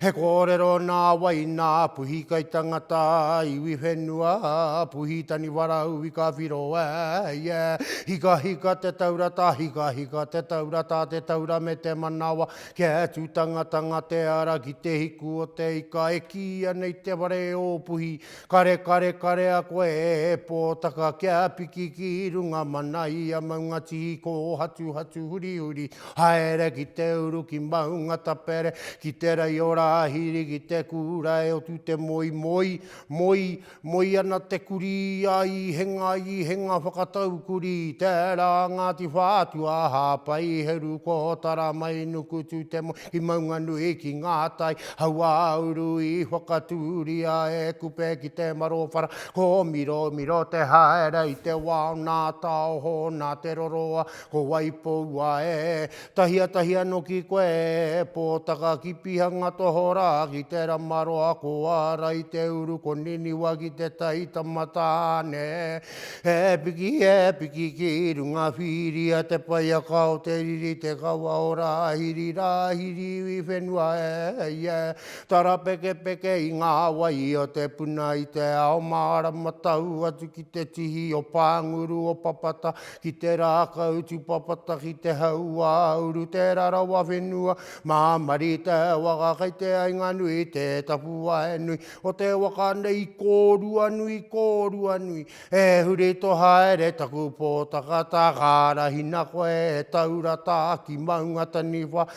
He kōrero nā wai, nā Puhi kai tangata, iwi whenua, Puhi taniwarau i ka whiro e ia. Hikahika te taura tā, hikahika te taura tā, te taura me te manawa, kia atu tangatanga te ara ki te hiku o te ika e kīia nei te whare o Puhi, Kare kare kare a koe e Pōtaka Kia piki ki runga mana ia maunga tihi Kōhatu hatu huri huri Haere ki te uru ki maunga tapere Ki te rei o Rāhiri ki te kura e Otu te moe moe moe Moe ana te kurī a Īhenga Īhenga Whakatau kurī Tērā Ngāti Whātua Hāpai Heru Kōtara Mai Nukutu te moe Ki Maunganui, ki Ngātai, Hauāuru i whakatūria e Kupe ki te marowhara, ko Miromiro te haere i te wao nā Taoho, nā Te Roroa, ko Waipoua e tahi a tahi anō ki koe e Pōtaka, ki Pihanga tohorā, ki Te Ramaroa, ko Ara i te uru, ko Niniwa ki te tai tamatāne. E piki, e piki ki runga whiria te paiaka o te riri te kawa o Rāhiri, Rāhiri iwi whenua e, e, tarapekepeke i ngā wai o te puna i te ao mārama tau atu ki te tihi o Pānguru o Papata ki te rākau tupapata ki te hauā uru te rarawa whenua mā Marita e waka kei te ainga nui te tapuwae nui O te waka nei i kōrua nui, i kōrua nui. E huri to haere taku pōtaka ta ka arahina koe e taura ta ki maunga taniwha.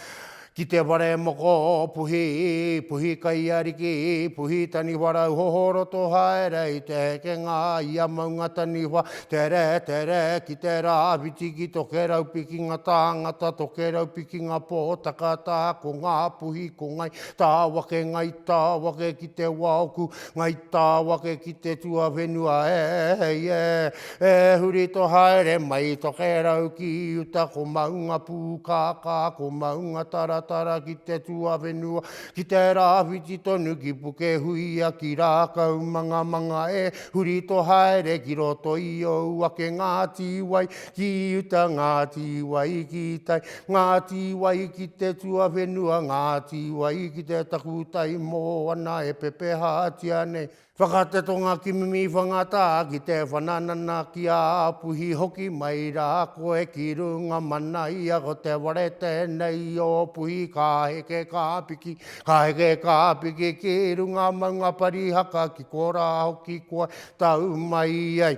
Ki te whare moko, puhi, puhi kai ariki, puhi taniwha rau hoho roto haere i te hekenga i a maunga taniwha. Tere, tere, ki te rā whiti ki to kerau pikinga tāngata, to kerau pikinga pōtaka ta ko ngā puhi ko ngai, Tāwake, ngai tāwake ki te waoku, ngai tāwake ki te tuawhenua e, e, e huri to haere mai to kerau ki uta ko maunga pūkākā, ko maunga taratara ki te tuawhenua, ki te rāwhiti tonu ki Pukehuia, ki Rākau mangamanga e, huri to haere ki roto i ou ake ngā tīwai, Ki uta Ngāti Wai ki tai Ngāti Wai ki te tuawhenua Ngāti Wai ki te takutai moana e pepehatia nei Whakatetonga ki Mimi Whangatā ki te whananana ki a Puhi Hoki mai rā koe ki runga mana ia ko te ware tēnei o Puhi Ka heke ka piki, ka heke ka piki ki runga maunga Parihaka ki korā hoki koe tau mai ai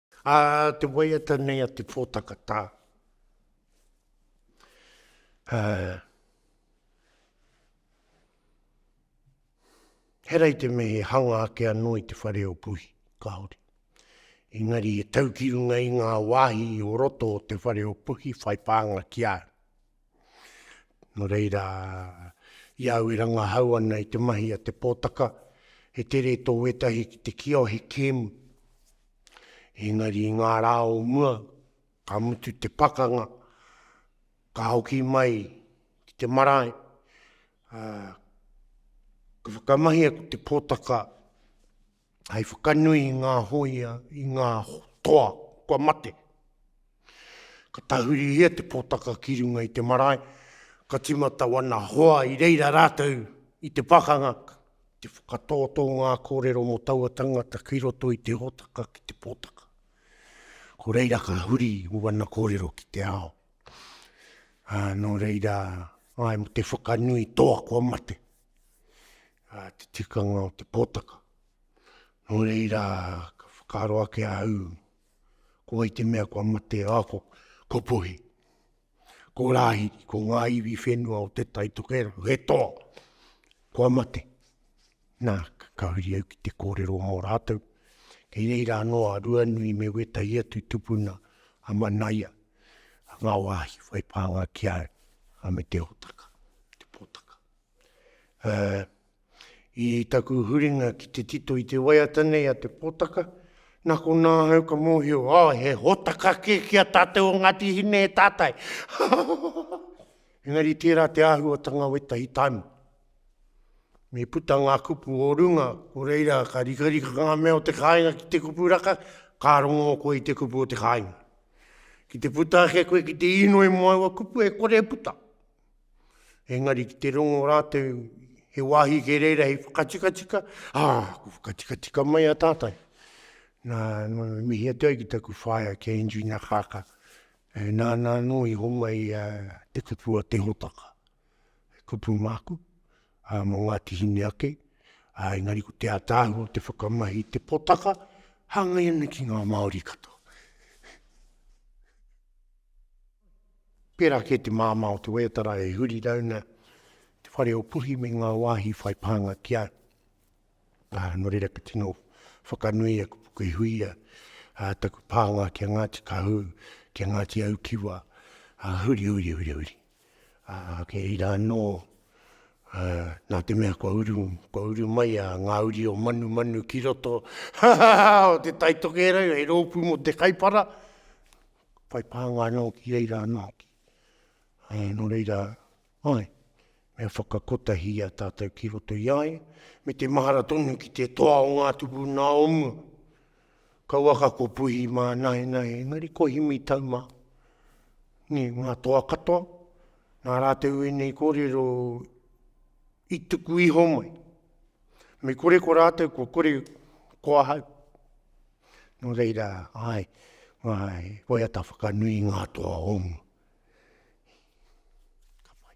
A te waiata nei a te pōtaka tā. Uh, herai te me he hanga ake anō i te whare o puhi, kāore. Engari e tau ki runga i ngā wāhi o roto o te whare o puhi, whai pānga ki āu. Nō reira, i au e rangahau ana i te mahi a te pōtaka, he tere tō wētahi ki te kio he kēmu. Engari i ngā rā o mua, ka mutu te pakanga, ka hoki mai ki te marae, ā, ka whakamahia ko te pōtaka hei whakanui i ngā hōia, i ngā toa kua mate. Ka tahurihia te pōtaka ki runga i te marae, ka timata wana hoa i reira rātou i te pakanga, te whakatōtō ngā kōrero mō taua tangata ki roto i te hōtaka ki te pōtaka. Ko reira ka huri wana kōrero ki te ao. Nō reira, ai mo te whakanui toa kua mate. ā, te tikanga o te pōtaka. Nō reira, ka whakaaro ake ahau, ko wai te mea kua mate, ā, ko, ko puhi. Ko rāhiri, ko ngā iwi whenua o te tai tokera, he toa, kua mate. Nā, ka huri au ki te kōrero mō rātou. Kei reira anō a Ruanui me wētahi atu tupuna a Manaia, ngā wāhi whai pānga ki a au, a me te hōtaka, te pōtaka. Ā, i taku huringa ki te tito i te waiata nei a te potaka, nā konā ahau ka mōhio, ā, he hōtaka kē ki a tātou o Ngāti Hine e tātai. Engari tērā te āhuatanga wētahi taima. Me puta ngā kupu o runga, ko reira ka rikarika ngā mea o te kāinga ki te kupu raka, ka rongo koe i te kupu o te kāinga. Ki te puta ake koe ki te īnoi mō aua kupu e kore e puta. Engari ki te rongo rātou, he wāhi kē reira hei whakatikatika, ā, ah, ko whakatikatika mai a tātai. Nā, nā, mihi atu ai ki taku whaea ki a Andrew Nakaka. E, nā, nā, nō i honga i a te kupu o te hotaka. He kupu māku, ā, mō Ngāti Hine ake, ā, engari ko te ātaahua o te whakamahi i te potaka, hāngai ana ki ngā Māori katoa. Pērā kē te māmā o te waiatara e huri rauna te whare o Puhi me ngā wāhi whai pānga ki a, ā, nō reira ka tino whakanui a Kupu Kei Huia, ā, taku pānga ki a Ngāti Kahū, ki a Ngāti Aukiwa, ā, huri, huri, huri, huri. Ā, kei reira anō, ā, nā te mea kua uru, kua uru mai a Ngā Uri o Manumanu ki roto o Te Tai Tokerau hei rōpū mō te Kaipara, whai pānga anō ki reira anō hoki. Ā, nō reira, āe, me whakakotahi i a tātou ki roto i a ia, me te mahara tonu ki te toa o ngā tupuna o mua. Kauaka ko Puhi mā Naenae engari ko Himi tau mā. Nē, ngā toa katoa, nā rātou ēnei kōrero i tuku iho mai. Me kore ko rātou, kua kore ko ahau. Nō reira, āe, ngā waiata whakanui ngā toa o mua. Ka pai.